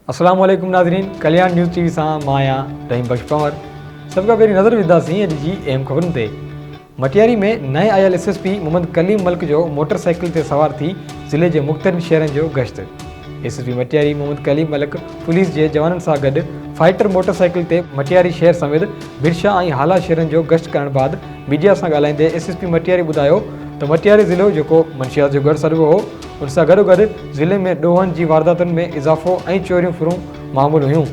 السلام عليڪم ناظرين ڪليان نيوز ٽي وي سان مان آهيان رحيم بخش پنور سڀ کان پهرين نظر وجهنداسين اڄ جي اهم خبرن تي مٽياري ۾ نئين آيل S S P Muhammad Kaleem Malik جو موٽر سائيڪل تي سوار ٿي ضلعي جي مختلف شهرن جو گشت S S P Matiari Muhammad Kaleem Malik police جي جوانن سان گڏ فائٽر موٽر سائيڪل تي مٽياري شهر سميت برشا ۽ هالا شهرن جو گشت ڪرڻ بعد ميڊيا سان ڳالهائيندي ايس ايس پي مٽياري ٻڌايو ته مٽياري ضلعو جيڪو منشيات جو ڳڙهه سڏبو هو ان سان گڏوگڏ ضلعي ۾ ڏوهن جي وارداتن ۾ اضافو ۽ چوريون ڦرون معمول هيون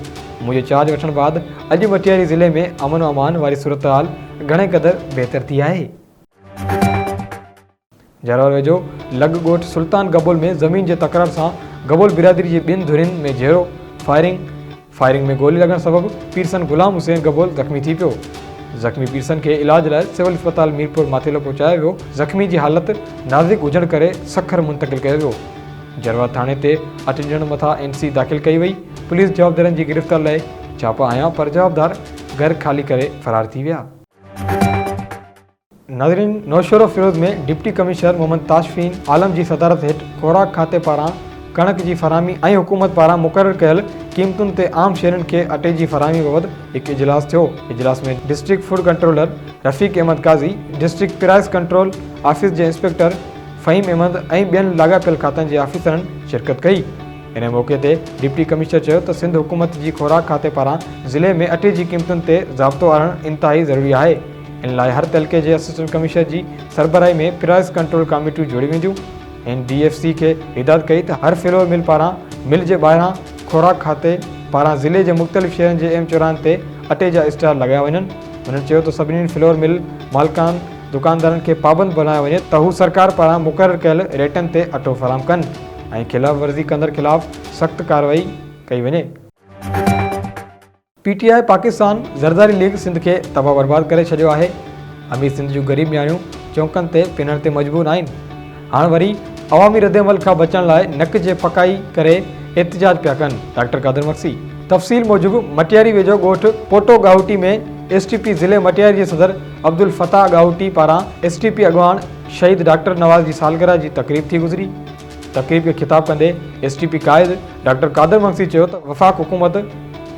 منهنجي چارج وٺڻ بعد اڄ مٽياري ضلعي ۾ امن و امان واري صورتحال گهڻي قدر بهتر ٿي آهي. جهراول ويجهو لڳ ڳوٺ سلطان گبول ۾ زمين جي تڪرار سان گبول برادري جي ٻن ڌرين ۾ جهيڙو، فائرنگ، فائرنگ ۾ گولي لڳڻ سبب پيرسن غلام حسين گبول زخمي ٿي پيو. زخمي پيرسن کي علاج لاء سول اسپتال ميرپور ماٿيلو پهچايو ويو، زخمي جي حالت نازڪ هجڻ ڪري سکر منتقل ڪيو ويو. جهراول ٿاڻي تي اٺ ڄڻن مٿان اين سي داخل ڪئي وئي، پوليس جوابدارن جي گرفتار لاء ڇاپا هنيا پر جوابدار گهر خالي ڪري فرار ٿي ويا. ناظرين نوشهروفيروز ۾ ڊپٽي ڪمشنر محمد تاشفين عالم جي صدارت هيٺ خوراڪ کاتي پاران ڪڻڪ جي فراهمي ۽ حڪومت پاران مقرر ڪيل قيمتن تي عام شهرين کي اٽي جي فراهمي بابت هڪ اجلاس ٿيو اجلاس ۾ district food controller Rafiq Ahmed Qazi district price control office جي انسپيڪٽر فهيم احمد ۽ ٻين لاڳاپيل کاتن جي آفيسرن شرڪت ڪئي ان موقعي تي ڊپٽي ڪمشنر چيو ته سنڌ حڪومت جي خوراڪ کاتي پاران ضلعي ۾ اٽي جي قيمتن تي ضابطو آڻڻ انتهائي ضروري آهي ان لاء هر تعلقي جي اسسٽنٽ ڪمشنر جي سربراهي ۾ پرائس ڪنٽرول ڪاميٽيون جوڙيون وينديون. هن ڊي ايف سي کي هدايت ڪئي ته هر فلور مل پاران مل جي ٻاهران خوراڪ کاتي پاران ضلعي جي مختلف شهرن جي اهم چوراهن تي اٽي جا اسٽال لڳايا وڃن. هن چيو ته سڀني فلور مل مالڪان دڪاندارن کي پابند بڻايو وڃي ته هو سرڪار پاران مقرر ڪيل ريٽن تي اٽو فراهم ڪن ۽ خلاف ورزي ڪندڙ خلاف سخت ڪارروائي ڪئي وڃي. P T I Pakistan Zardari league Sindh کي تباهه برباد ڪري ڇڏيو آهي امير سنڌ جون غريب نياڻيون چونڪن تي پنڻ تي مجبور آهن هاڻ وري عوامي ردعمل کان بچڻ لاء نڪ جي ڦڪائي ڪري احتجاج پيا ڪن ڊاڪٽر قادر مگسي تفصيل موجب مٽياري ويجهو ڳوٺ Poto Gahoti ۾ S T P ضلعي مٽياري جي صدر عبدالفتاح ڳاهوٽي پاران ايس ٽي پي اڳواڻ شهيد ڊاڪٽر نواز جي سالگرهه جي تقريب ٿي گذري تقريب کي خطاب ڪندي ايس ٽي پي قائد ڊاڪٽر قادر مگسي چيو ته وفاق حڪومت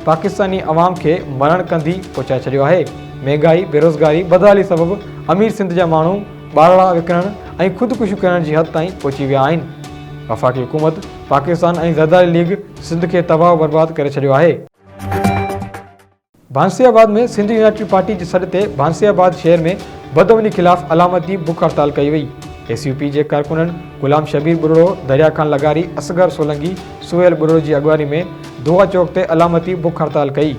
پاڪستاني عوام کي مرڻ ڪنڌي پهچائي ڇڏيو آهي، مهنگائي، بيروزگاري، بدحالي سبب امير سنڌ جا ماڻهو ٻارڙا وڪڻڻ ۽ خودڪشيون ڪرڻ جي حد تائين پهچي ويا آهن، وفاقي حڪومت پاڪستان ۽ زرداري ليگ سنڌ کي تباهه و برباد ڪري ڇڏيو آهي. ڀانسي آباد ۾ سنڌ يونائٽيڊ پارٽي جي سڏ تي ڀانسي آباد شهر ۾ بدامني خلاف علامتي بک هڙتال ڪئي وئي ايس يو پي جي ڪارڪنن غلام شبير ٻرڙو دريا خان لغاري اصغر سولنگي سهيل ٻرڙو جي اڳواڻي ۾ دعا چوڪ تي علامتي بک هڙتال ڪئي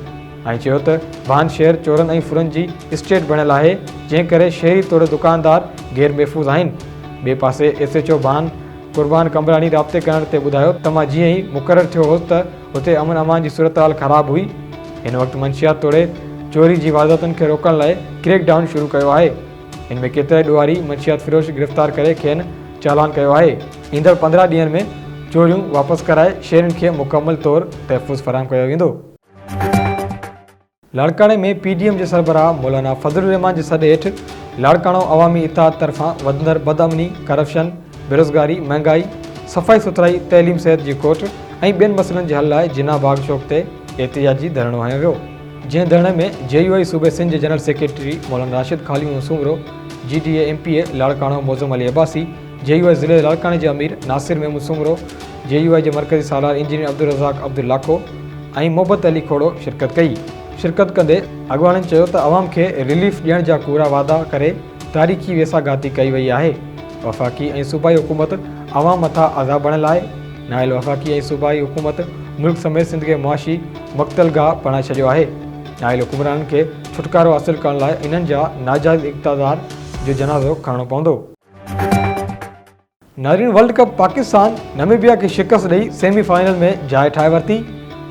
۽ چيو ته ڀان شهر چورن ۽ ڦرن جي اسٽيٽ بڻيل آهي جنهن ڪري شهري توڙي دڪاندار غير محفوظ آهن ٻئي پاسي S H O Bhan Qurban Qambrani رابطي ڪرڻ تي ٻڌايو ته مان جيئن ئي مقرر ٿيو هوس ته اتي امن امان جي صورتحال خراب هئي، هن وقت منشيات توڙي چوري جي وارداتن کي روڪڻ لاء ڪريڪ ڊائون شروع ڪيو آهي، ان ۾ ڪيترائي ڏوهاري منشيات فروش گرفتار ڪري کين چالان ڪيو آهي، ايندڙ پندرهن ڏينهن ۾ چوريون واپس ڪرائي شهرين کي مڪمل طور تحفظ فراهم ڪيو ويندو. لاڙڪاڻي ۾ پي ڊي ايم جي سربراهه مولانا فضل الرحمان جي سڏ هيٺ لاڙڪاڻو عوامي اتحاد طرفان وڌندڙ بدامني، ڪرپشن، بيروزگاري، مهنگائي، صفائي سٿرائي، تعليم صحت جي کوٽ ۽ ٻين مسئلن جي حل لاء جناح باغ چوڪ تي احتجاجي ڌرڻو هنيو ويو، جنهن ڌرڻي ۾ جي يو آء صوبي سنڌ جي جنرل سيڪريٽري مولانا راشد خاليون Soomro, G D A M P A Larkana Moazzam Ali Abbasi, J U I ضلعي لاڙڪاڻي جي امير ناصر محمود سومرو، جي يو آء جي مرڪزي سالار انجنيئر عبدالرزاق عبد لاکو ۽ محبت علي کوڙو شرڪت ڪئي. شرڪت ڪندي اڳواڻن چيو ته عوام کي رليف ڏيڻ جا ڪوڙا وعدا ڪري تاريخي ويساهه گهاتي ڪئي وئي آهي، وفاقي ۽ صوبائي حڪومت عوام مٿان عذاب بڻيل آهي، نااهل وفاقي ۽ صوبائي حڪومت ملڪ سميت سنڌ کي معاشي مقتل گاهه بڻائي ڇڏيو آهي، نااهل حڪمرانن کي ڇوٽڪارو حاصل ڪرڻ لاء انهن جا ناجائز اقتدار جو جنازو کڻڻو پوندو. نارين ورلڊ ڪپ پاڪستان نميبيا کي شڪست ڏئي سيمي فائنل ۾ جاء ٺاهي ورتي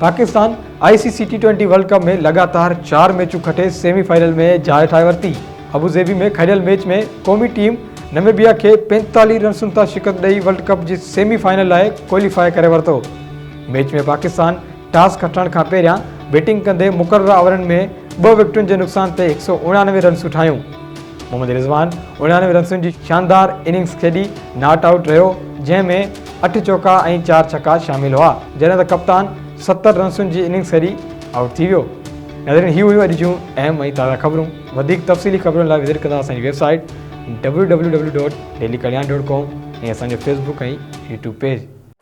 Pakistan I C C T twenty world cup ۾ لڳاتار چار ميچون کٽي سيمي فائنل ۾ جاء ٺاهي ورتي ابوظهبي ۾ کيڏيل ميچ ۾ قومي ٽيم نميبيا کي پينتاليهه رنسن تان شڪست ڏئي ورلڊ ڪپ جي سيمي فائنل لاء ڪواليفاء ڪري ورتو ميچ ۾ پاڪستان ٽاس کٽڻ کان پهريان بيٽنگ ڪندي مقرره آورن ۾ ٻه وڪيٽن جي نقصان تي هڪ سؤ اڻيانوي رنسون ٺاهيون. محمد رضوان اڻيانوي رنسن جي شاندار اننگز کيڏي ناٽ آئوٽ رهيو، جنهن ۾ اٺ چوڪا ۽ چار ڇڪا شامل هئا، جڏهن ته ڪپتان ستر رنسن جي اننگز کيڏي آئوٽ ٿي ويو. ناظرين هي هيون اڄ جون اهم ۽ تازا خبرون، وڌيڪ تفصيلي خبرن لاء وزٽ ڪندا اسان جي website W W W dot daily Kalyan dot com ۽ اسان جو فيس بڪ ۽ يوٽيوب پيج.